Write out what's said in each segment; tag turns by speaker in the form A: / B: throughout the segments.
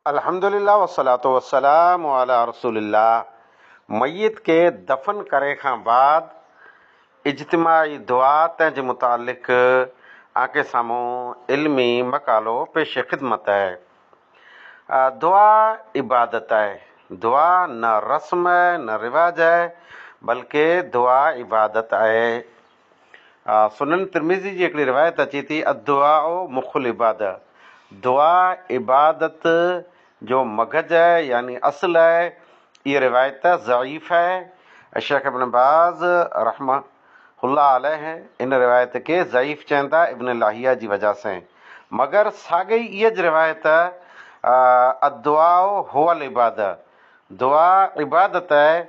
A: الحمد لله والصلوة والسلام علي رسول الله ميت کي دفن ڪري کان بعد اجتماعي دعا تنهن جي متعلق آنکي سامهون علمي مقالو پيش خدمت آهي دعا عبادت آهي دعا نه رسم آهي نه رواج آهي بلڪه دعا عبادت آهي سنن ترمذي جي هڪڙي روايت اچي ٿي، الدعاء مخ العبادة، دعا عبادت جو مغز آهي يعني اصل آهي. اها روايت ضعيف آهي. شيخ ابن باز رحمه الله عليه ان روايت کي ضعيف چين ٿا ابن لاهيه جي وجه سين. مگر ساڳئي اهج روايت الدعاء هو العبادة، دعا عبادت آهي،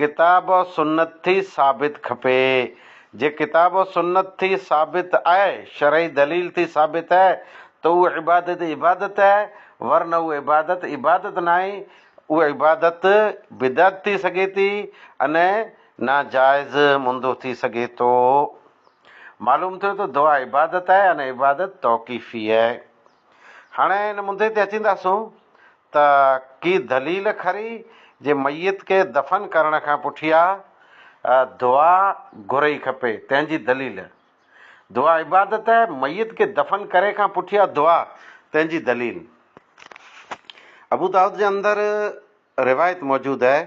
A: ڪتاب و سنت ٿي ثابت کپي جي ڪتاب و سنت ٿي ثابت آهي شرعي دليل ٿي ثابت آهي ته اهو عبادت عبادت آهي ورنه اهو عبادت عبادت ناهي اهو عبادت بدعت ٿي سگهي ٿي ان ناجائز مندو ٿي سگهي ٿو معلوم ٿيو ته دعا عبادت آهي ان عبادت توقيفي آهي هاڻي ان مدي تي اچينداسون ته ڪي دليل کري جي ميت کي دفن ڪرڻ کان پٺيا دعا گهرئي کپي تنهن جي دليل دعا عبادت آهي ميت کي دفن ڪري کان پٺيا دعا تنهن جي دليل ابودائود جي اندر روايت موجود آهي.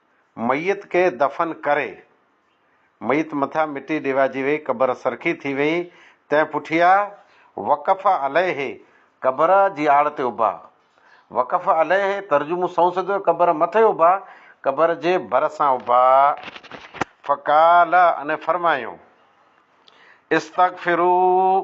A: ميت کي دفن ڪري، ميت مٿان مٽي ڏيوائجي وئي، قبر سرخي ٿي وئي، تنهن پٺيا وقف عليه قبر جي آڙ تي اڀا. وقف عليه ترجمو سنئون سڌو هي، قبر مٿي اڀا، قبر جي ڀرسان اڀا. فقال انهن فرمايو، استغفروا.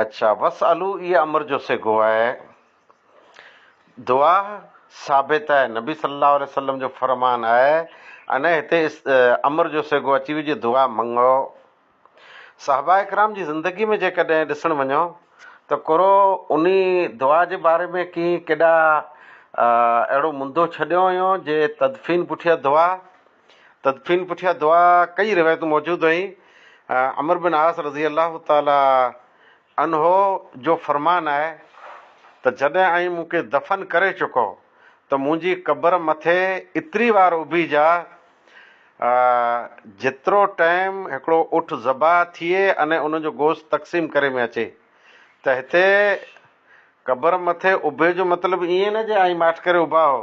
A: اڇا وس الو اي امر جو صيغو آهي. دعا ثابت آهي نبي صلي الله عليه وسلم جو فرمان آهي انهي هتي امر جو صيغو اچي ويو جي دعا منگو. صحابه اڪرام جي زندگي ۾ جيڪڏهن ڏسڻ وڃو ته ڪرو انهي دعا جي باري ۾ ڪي ڪيڏا اهڙو مندو ڇڏيو هيون جي تدفين پٺيان دعا. تدفين پٺيان دعا ڪئي روايتون موجود آهن. عمرو بن عاص رضي الله تعالٰي عنه جو فرمان آهي ته جڏهن اوهين مون کي دفن ڪري چڪو ته منهنجي قبر مٿي ايتري وار اڀيجاء جيترو ٽيم هڪڙو اٺ ذبح ٿئي ۽ ان جو گوشت تقسيم ڪري ۾ اچي ته هتي قبر مٿي اڀي جو مطلب ائين نه جي آئين ماٺ ڪري اڀا هو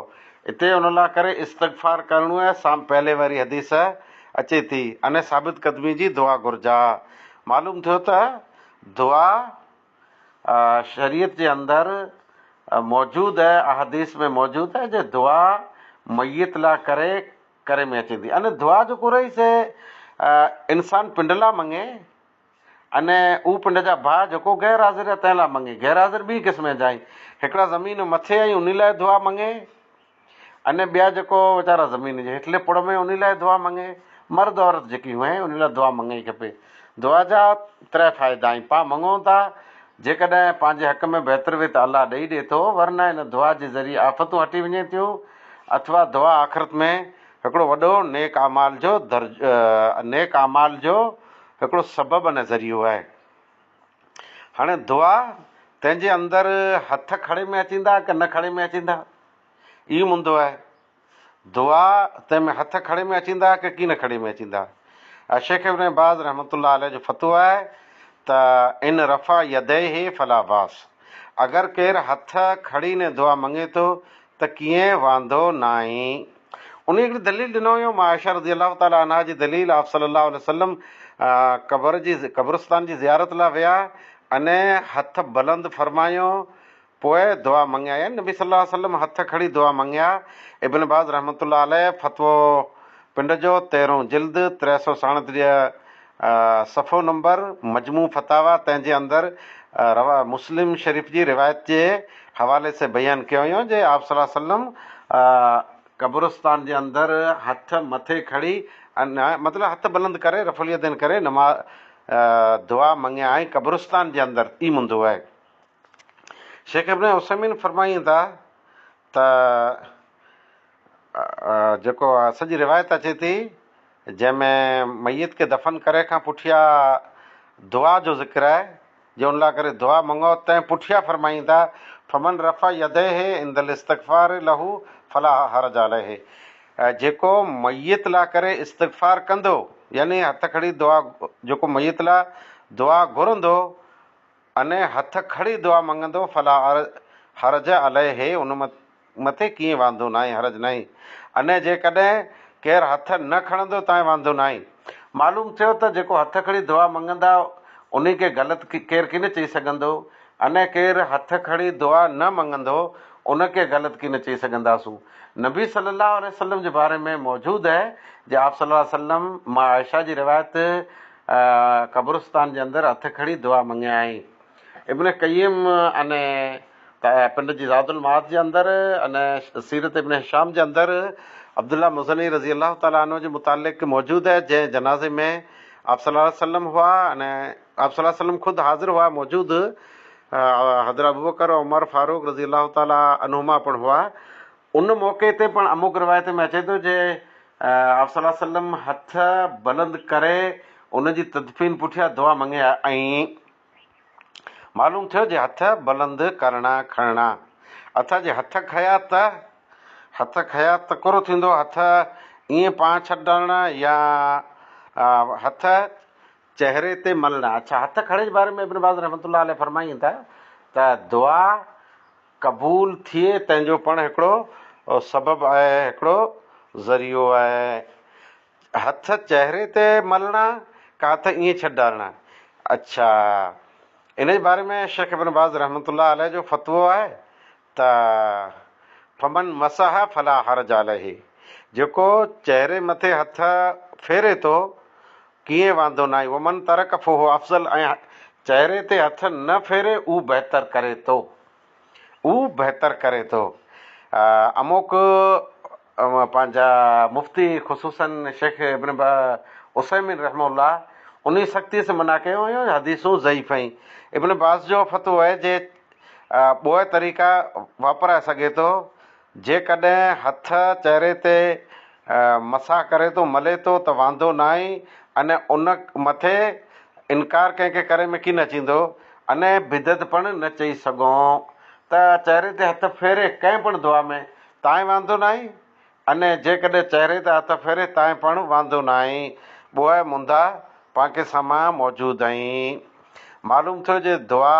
A: اتي ان لا ڪري استغفار ڪرڻو آهي سام پهلي واري حديث اچي ٿي اني ثابت قدمي جي دعا گهرجا معلوم ٿيو ته دعا شريعت جي اندر موجود آهي احاديث ۾ موجود آهي جي دعا ميت لا ڪري ڪري ۾ اچي ٿي اني دعا جو ڪورئي سي انسان پنڊ لا منگي انهيء او پنڊ جا ڀاء جيڪو غير حاضر يا تنهن لاء مڱي، غير حاضر ٻيئي قسم جا آهن. هڪڙا زمين مٿي ۽ انهي لاء دعا مڱي. انهي ٻيا جيڪو ويچارا زمين جي هيٺلي پڙ ۾ انهي لاء دعا مڱي. مرد عورت جيڪي هئين انهي لاء دعا مڱڻي کپي. دعا جا ترهه فائدا آهن. پا مڱون ٿا. جيڪڏهن پنهنجي حق ۾ بهتر وي ته الله ڏئي ڏي ٿو ورنه ان دعا جي ذريعي آفتون هٽي وڃين ٿيون اٿوا دعا آخرت ۾ هڪڙو وڏو نيڪ اعمال جو نيڪ اعمال جو هڪڙو سبب ۽ ذريعو آهي. هاڻي دعا تنهنجي اندر هٿ کڙي ۾ اچيندا ڪه نه کڙي ۾ اچيندا اهي مندو آهي. دعا تنهن ۾ هٿ کڙي ۾ اچيندا ڪه ڪين کڙي ۾ اچيندا. الشيخ ابن باز رحمة الله عليه جو فتويٰ آهي ته ان رفع يديه فلا باس اگر ڪير هٿ کڙي ني دعا منگي ٿو ته ڪيئن واندو ناهين؟ انهيء هڪڙي دليل ڏنو هيو ام عائشه رضي الله تعالٰي عنها جي دليل آپ صلّي اللّٰه عليه وسلّم قبر جي قبرستان جي زيارت لاء ويا ۽ هٿ بلند فرمايو پوء دعا مڱيا يعني نبي صلّي اللّٰه عليه وسلّم هٿ کڻي دعا مڱيا ابن باز رحمة الله عليه فتويٰ پنڊ جو تيرهون جلد ٽي سؤ ساڻيهه صفحو نمبر، مجموع فتاويٰ تنهن جي اندر رواه مسلم شريف جي روايت جي حوالي سين بيان ڪيو ويو جي آپ صلي الله عليه وسلم قبرستان جي اندر هٿ مٿي کڻي مطلب هٿ بلند ڪري رفع اليدين ڪري نماز دعا مڱي ۽ قبرستان جي اندر ئي منڌو هي شيخ ابن عثيمين فرمائين ٿا ته جيڪو سڄي روايت اچي ٿي جنهن ۾ ميت کي دفن ڪري کان پٺيا دعا جو ذڪر آهي جي ان لاء ڪري دعا منگو تنهن پٺيا فرمائين ٿا فمن رفع يديه عند الاستغفار له فلا حرج عليه جيڪو ميت لاء ڪري استغفار ڪندو يعني هٿ کڙي دعا جيڪو ميت لاء دعا گهرندو انهيء هٿ کڻي دعا منگندو، فلا حرج عليه، ان مٿي ڪيئي واندو ناهي، حرج ناهي، انهيء جيڪڏهن ڪير هٿ نه کڻندو تانء واندو ناهي. معلوم ٿيو ته جيڪو هٿ کڻي دعا منگندا انهي کي غلط ڪير ڪين چئي سگهندو، انهيء ڪير هٿ کڻي دعا نه منگندو ان کي غلط ڪين چئي سگهنداسون. نبي صلّي اللّٰه عليه وسلّم جي باري ۾ موجود اهي جي آپ صلّي اللّٰه عليه وسلّم مان عائشه جي روايت، قبرستان جي اندر هٿ کڻي دعا مڱيائين. ابن قيم ان پنڊ جي زاد المعاد جي اندر ان سيرت ابن هشام جي اندر عبدالله مزني رضي الله تعالٰي عنه جي متعلق موجود آهي جنهن جنازي ۾ آپ صلي الله عليه وسلم هئا ان آپ صلي الله عليه وسلم خود حاضر هئا موجود حضرت ابوبڪر عمر فاروق رضي الله تعالٰي عنهما پڻ هئا ان موقعي تي پڻ اموڪ روايتن ۾ اچي ٿو جي آء صلي الله عليه وسلم هٿ بلند ڪري ان جي تدفين پٺيان دعا مڱي ۽ معلوم ٿيو جي هٿ بلند ڪرڻا کڻڻا اٿا جي هٿ کنيا ته هٿ کنيا ته ڪورو ٿيندو هٿ ائين پان ڇڏڻا يا هٿ چهري تي ملڻا اڇا هٿ کڻڻ جي باري ۾ ابن باز رحمة الله عليه فرمائين ٿا ته دعا قبول ٿئي تنهن جو پڻ هڪڙو سبب آهي هڪڙو ذريعو آهي هٿ چهري تي ملڻا ڪا ته ائين ڇڏ ڊارڻا اڇا ان جي باري ۾ شيخ ابن باز رحمة الله عليه جو فتوو آهي ته فمن مسح فلا حرج عليه جيڪو چهري مٿي هٿ ڦيري ٿو ڪيئن واندو ناهي ومن ترڪ فهو افضل ۽ چهري تي هٿ نه ڦيري اهو بهتر ڪري ٿو اهو بهتر ڪري ٿو اموڪ پنهنجا مفتي خصوصا شيخ ابن عثيمين رحمه الله انهي سختي سان منع ڪيو هيو حديثون ضعيف آهن ابن باز جو فتوو آهي جي ٻوئي طريقا واپرائي سگهي ٿو جيڪڏهن هٿ چهري تي مسح ڪري ٿو، ملي ٿو، ته واندو ناهي ۽ ان مٿي انڪار ڪنهن کي ڪري ۾ ڪين اچيندو ۽ بدعت پڻ نه چئي سگهون ته چهري تي هٿ ڦيري ڪنهن پڻ دعا ۾ تائين واندو ناهي ۽ جيڪڏهن چهري تي هٿ ڦيري تائين پڻ واندو ناهي ٻوهه مندا پانڪي سامان موجود ۽ معلوم ٿيو جي دعا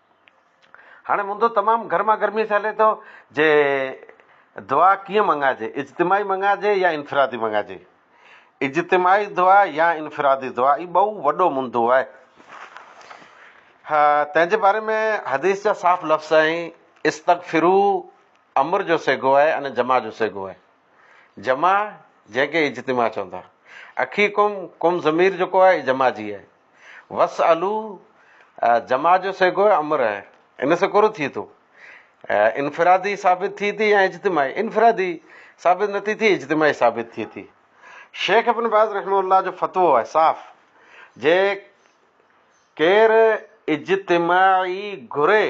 A: هاڻي مندو تمام گرما گرميء سان هلي ٿو جي دعا ڪيئن منڱائجي، اجتماعي منڱائجي يا انفرادي منڱائجي. اجتماعي دعا يا انفرادي دعا هي ٻئو وڏو مندو آهي. ها تنهن جي باري ۾ حديث جا صاف لفظ آهن، استغفرو امر جو صيغو آهي ان جماع جو صيغو آهي. جماع جنهن کي اجتماع چوندا. اخيڪم ڪم ضمير جيڪو آهي جماع جي آهي. وس الو جمع جو صيغو امر آهي ان سان ڪورو ٿئي ٿو انفرادي ثابت ٿئي ٿي يا اجتماعي انفرادي ثابت نه ٿي ٿي اجتماعي ثابت ٿئي ٿي شيخ ابن باز رحمه الله جو فتوو آهي صاف جي ڪير اجتماعي گهري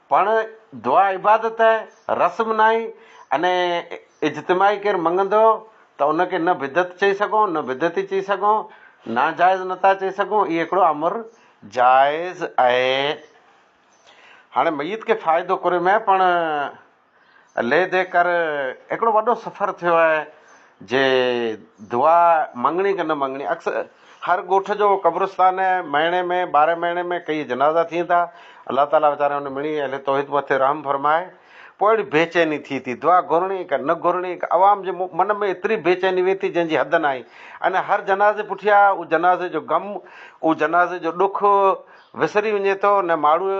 A: پڻ دعا عبادت آهي، رسم ناهي، انهيء اجتماعي ڪير مڱندو ته ان کي نه بدعت چئي سگهون، نه بدعتي چئي سگهون، ناجائز نٿا چئي سگهون، اهو هڪڙو امر جائز آهي. هاڻي ميت کي فائدو ڪري ۾ پڻ. عليحدي ڪر هڪڙو وڏو سفر ٿيو آهي جي دعا مڱڻي ڪه نه مڱڻي اڪثر هر ڳوٺ جو قبرستان آهي مهيني ۾ ٻارهن مهيني ۾ ڪيئي جنازا ٿين ٿا الله تعالي ويچاري ان مڙني اهل توحيد مٿي رحم فرمائي پوء اهڙي بيچيني ٿي ٿي دعا گهرڻي ڪه نه گهرڻي عوام جي من ۾ ايتري بيچيني ويئي ٿي جنهن جي حد ناهي ان هر جنازي پٺيان اهو جنازي جو غم اهو جنازي جو ڏک وسري وڃي ٿو نه ماڻهو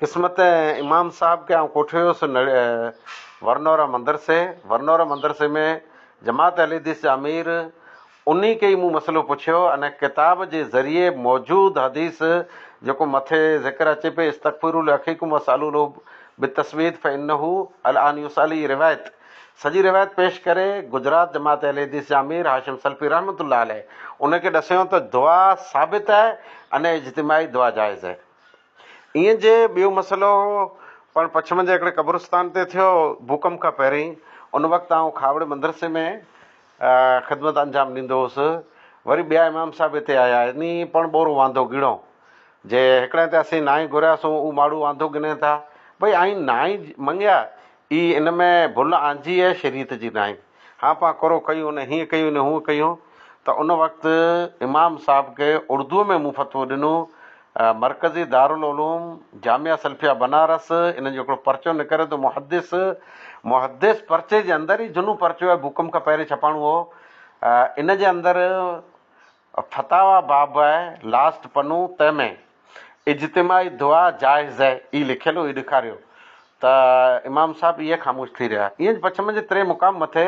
A: قسمت ۽ امام صاحب کي آئون ڪوٺي ويس ورنورا مدرسي. ورنورا مدرسي ۾ جماعت اهلحديث جا امير انهي کي ئي مون مسئلو پڇيو انهي ڪتاب جي ذريعي موجود حديث جيڪو مٿي ذڪر اچي پئي استغفروا لاخيڪم واسالوا له بالتثبيت فانه الان يسال هي روايت سڄي روايت پيش ڪري گجرات جماعت اهلحديث جا امير هاشم سلفي رحمة الله عليه انهي کي ڏسيو ته دعا ثابت آهي انهي اجتماعي دعا جائز آهي. ايئن جي ٻيو مسئلو هو پڻ پڇم جي هڪڙي قبرستان تي ٿيو ڀوڪنپ کان پهرين ان وقت آئون کاوڙي مدرسي ۾ خدمت انجام ڏيندو هوس وري ٻيا امام صاحب هتي آيا انهي پڻ ٻورو واندو گيڻو جي هڪڙي تي اسين نانء گهريا سون او ماڙهو واندو گنين ٿا ڀئي آئين نانء منگيا اي ان ۾ ڀل آنجي اي شريعت جي نانء هان پان ڪرو ڪيون نه هين ڪيون نه هون ڪيون ته ان وقت امام صاحب کي اردوء ۾ مون فتوو ڏنو مرڪزي دارالعلوم جامعه سلفيه بنارس انهن جو هڪڙو پرچو نڪريو ته محدث محدث پرچي جي اندر هي جنون پرچو آهي بوڪم کان پهرين ڇپاڻو هو ان جي اندر فتاويٰ باب آهي لاسٽ پنو تنهن ۾ اجتماعي دعا جائز آهي هي لکيل هو هي ڏيکاريو ته امام صاحب اهي خاموش ٿي رهيا ائين پڇ منجهه تري مقام مٿي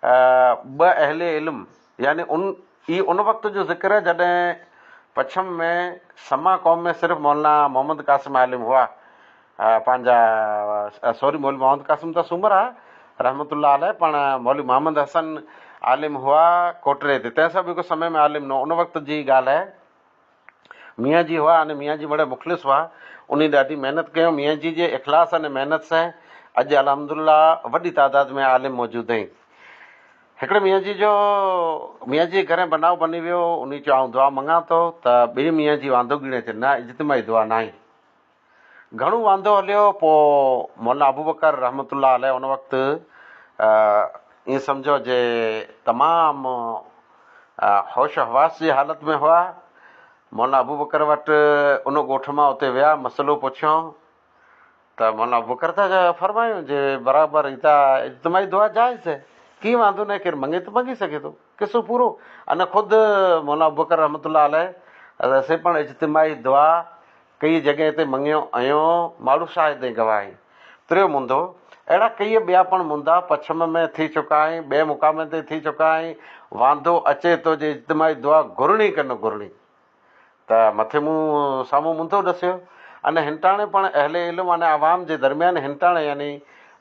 A: ٻه اهل علم يعني ان ئي ان وقت جو ذڪر آهي جڏهن پڇم ۾ سما قوم ۾ صرف مولانا محمد قاسم عالم هئا پنهنجا سوري مولوي محمد قاسم ته سومر آهي رحمت الله عليه پڻ مولوي محمد حسن عالم هئا ڪوٽڙي تي تنهن سان به هڪ سمي ۾ عالم نه ان وقت جي ڳالهه آهي. ميان جي هئا ۽ ميان جي وڙهه مخلص هئا. انهن ڏاڍي محنت ڪيم. ميان جي جي اخلاص ۽ محنت سين اڄ الحمد الله وڏي تعداد ۾ عالم موجود اهين. هڪڙي ميان جي جو ميان جي گهرين بنائو بني ويو انهي چيو آئون دعا منگان ٿو ته ٻئي ميان جي واندو ڳيڻي چي نه اجتماعي دعا ناهي. گهڻو واندو هليو پوء مولا ابوبڪر رحمة الله عليه ان وقت ائين سمجهو جي تمام هوش حواس جي حالت ۾ هئا. مولا ابوبڪر وٽ ان ڳوٺ مان اتي ويا مسئلو پڇيون ته مولا ابوبڪر ته فرمايون جي برابر هي ته اجتماعي دعا جائز هي ڪي واندو ناهي ڪير منگي ته منگي سگهي ٿو قصو پورو ان خود مولا ابوبڪر رحمة الله عليه سي پڻ اجتماعي دعا ڪيئي جڳهين تي مڱيو ائيو، ماڙهو شاهد ۽ گواهي. تريو منڌو، اهڙا ڪيئي ٻيا پڻ منڌا پڇم ۾ ٿي چڪا ۽ ٻين مقامن تي ٿي چڪا ۽ واندو اچي ٿو جي اجتماعي دعا گهرڻي ڪه نه گهرڻي ته مٿي مون سامهون منڌو ڏسيو ان هنٽاڻي پڻ اهل علم ان عوام جي درميان هنٽاڻي يعني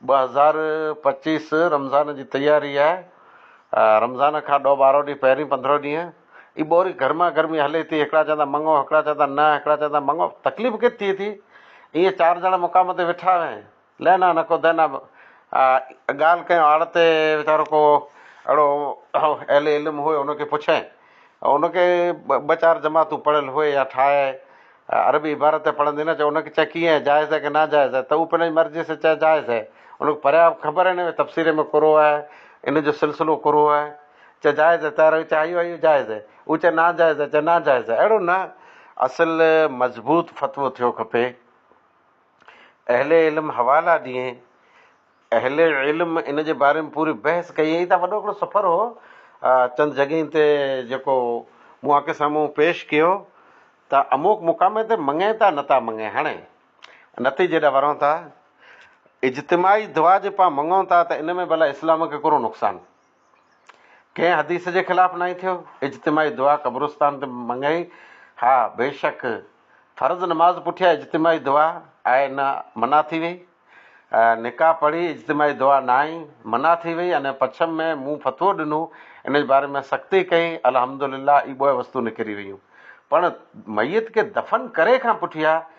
A: ٻه هزار پچيس رمضان جي تياري آهي رمضان کان ڏهه ٻارهو ڏينهن پهرين پندرهو ڏينهن هي ٻوري گرما گرمي هلي ٿي هڪڙا چوندا مڱو هڪڙا چوندا نه هڪڙا چوندا مڱو تڪليف ڪٿ ٿئي ٿي ايئن چار ڄڻا مقام تي ويٺا هين لهنا نه ڪو دهنا ڳالهه ڪيو آڙ تي ويچارو ڪو اهڙو اهل علم هئي ان کي پڇين ان کي ٻه چار جماعتون پڙهيل هئي يا ٺاهي عربي عبارت ته پڙهندي نه چي ان کي چي ڪيئن جائز آهي ڪي نا جائز آهي ته هو پنهنجي مرضي سان چي جائز آهي ان کي پريان خبر هي نه تفسير ۾ ڪورو آهي ان جو سلسلو ڪورو آهي چه جائز هي تارو چه آيو آيو جائز هي او چه نا جائز هي چه نا جائز هي اهڙو نه اصل مضبوط فتوو ٿيو کپي اهل علم حوالا ڏي اهل علم ان جي باري ۾ پوري بحث ڪئي هي ته وڏو هڪڙو سفر هو چند جڳهين تي جيڪو مون اکين سامهون پيش ڪيو ته اموڪ مقامي تي مڱين ٿا نه ٿا مڱين هاڻي نتيجي ڏا ورون ٿا اجتماعي دعا جي پا مڱون ٿا ته ان ۾ ڀلا اسلام کي ڪهڙو نقصان ڪنهن حديث جي خلاف ناهي ٿيو، اجتماعي دعا قبرستان تي مڱي، ها بيشڪ فرض نماز پٺيان اجتماعي دعا آهي نه منع ٿي وئي، نڪاح پڙهي اجتماعي دعا ناهي منع ٿي وئي ۽ پڇم ۾ مون فتوو ڏنو، ان جي باري ۾ سختي ڪئي، الحمدلله اي ٻوء وستون نڪري ويون. پڻ ميت کي دفن ڪري کان پٺيان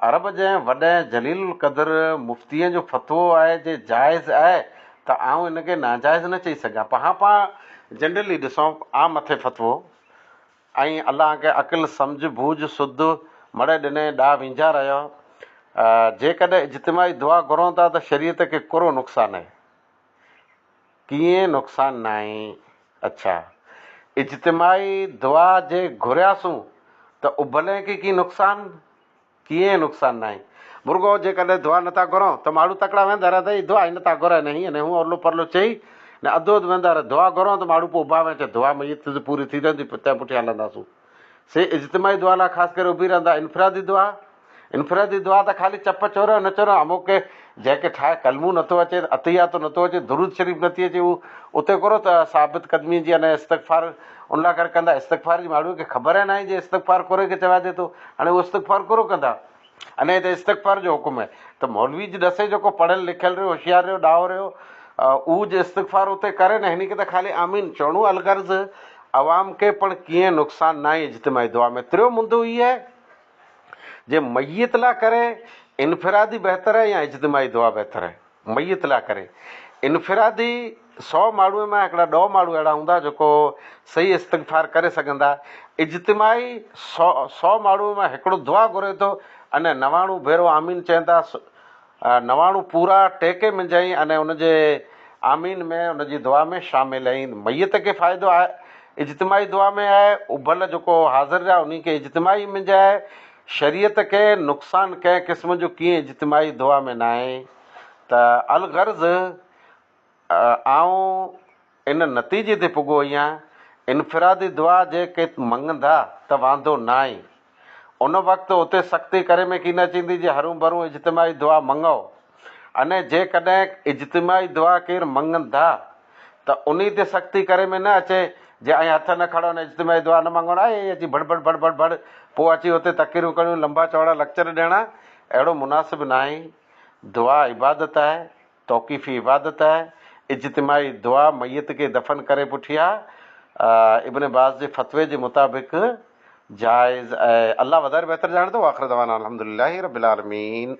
A: عرب جي وڏين جليل القدر مفتين جو فتوو آهي جي جائز آهي ته آئون ان کي ناجائز نه چئي سگهان پهان پهان جنرلي ڏسون عام مٿي فتوو ۽ الله کي عقل سمجهه ڀوڄ سڌ مڙئي ڏني ڏا وينجها رهيو جيڪڏهن اجتماعي دعا گهرون ٿا ته شريعت کي ڪرو نقصان آهي. ڪيئن نقصان ناهي. اڇا اجتماعي دعا جي گهرياسون ته اڀلين کي ڪي نقصان؟ ڪيئن نقصان ناهي. مرڳو جيڪڏهن دعا نٿا گهرون ته ماڙهو تڪڙا ويندا رهندا اي دعا ئي نٿا گهرائي نه هينئن نه هون ارلو پرلو چئي نه اڌو اڌ ويندا رهي دعا گهرون ته ماڙهو پوء اڀا وينچ دعا ميت جي پوري ٿيندي تنهن پٺيان هلنداسون. سي اجتماعي دعا لاء خاص ڪري اڀي رهندا. انفرادي دعا، انفرادي دعا ته خالي چپ چورو ۽ نه چورو امو کي جنهن کي ٺاهي ڪلمو نٿو اچي، عطياتو نٿو اچي، درود شريف نٿي اچي هو اتي ڪورو ته ثابت قدمي جي انهيء استغفار ان لاء ڪري ڪندا استغفار جي ماڙهوء کي خبر ئي ناهي جي استغفار ڪوري کي چوائجي ٿو هاڻي هو استغفار ڪورو ڪندا. انهيء تي استغفار جو حڪم آهي ته مولوي جي ڏسي جيڪو پڙهيل لکيل رهيو، هوشيار رهيو، ڏاهو رهيو، اهو جي استغفار اتي ڪري نه هن کي ته خالي آمين چوڻو الغرض عوام کي پڻ ڪيئن نقصان ناهي اجتماعي دعا ۾ تريو مندو هي آهي جي ميت لا ڪري انفرادي بهتر آهي يا اجتماعي دعا بهتر آهي. ميت لاء ڪري انفرادي سؤ ماڻهوء مان هڪڙا ڏهه ماڻهو اهڙا هوندا جيڪو صحيح استغفار ڪري سگهندا، اجتماعي سؤ سؤ ماڻهوء مان هڪڙو دعا گهري ٿو ان نواڻو ڀيرو آمين چئندا نواڻو پورا ٽيڪي منجهائين ان ان جي آمين ۾ ان جي دعا ۾ شامل ۽ ميت کي فائدو آهي اجتماعي دعا ۾ آهي اڀل جيڪو حاضر رهيا انهي کي اجتماعي منجهائي شريعت کي نقصان ڪنهن قسم جو ڪيئن اجتماعي دعا ۾ ناهي ته الغرض آئون ان نتيجي تي پڳو هيان انفرادي دعا جي ڪي مڱندا ته واندو ناهي ان وقت اتي سختي ڪري ۾ ڪين اچيندي جي هرون برون اجتماعي دعا مڱئو انهيء جيڪڏهن اجتماعي دعا ڪير مڱن ٿا ته انهيء تي سختي ڪري ۾ نه اچي جي ائين هٿ نه کڻن ۽ اجتماعي دعا نه مڱن ۽ ائين اچي ڀڙ ڀڙ ڀڙ ڀڙ ڀڙ پوء اچي اتي تقريرون ڪرڻيون لنبا چوڙا لڪچر ڏيڻا اهڙو مناسب ناهي دعا عبادت آهي توقيفي عبادت آهي اجتماعي دعا ميت کي دفن ڪري پٺيان ابن باز جي فتوي جي مطابق جائز آهي الله وڌائي بهتر ڄاڻي ٿو واخر دعوانا الحمدلله رب العالمين.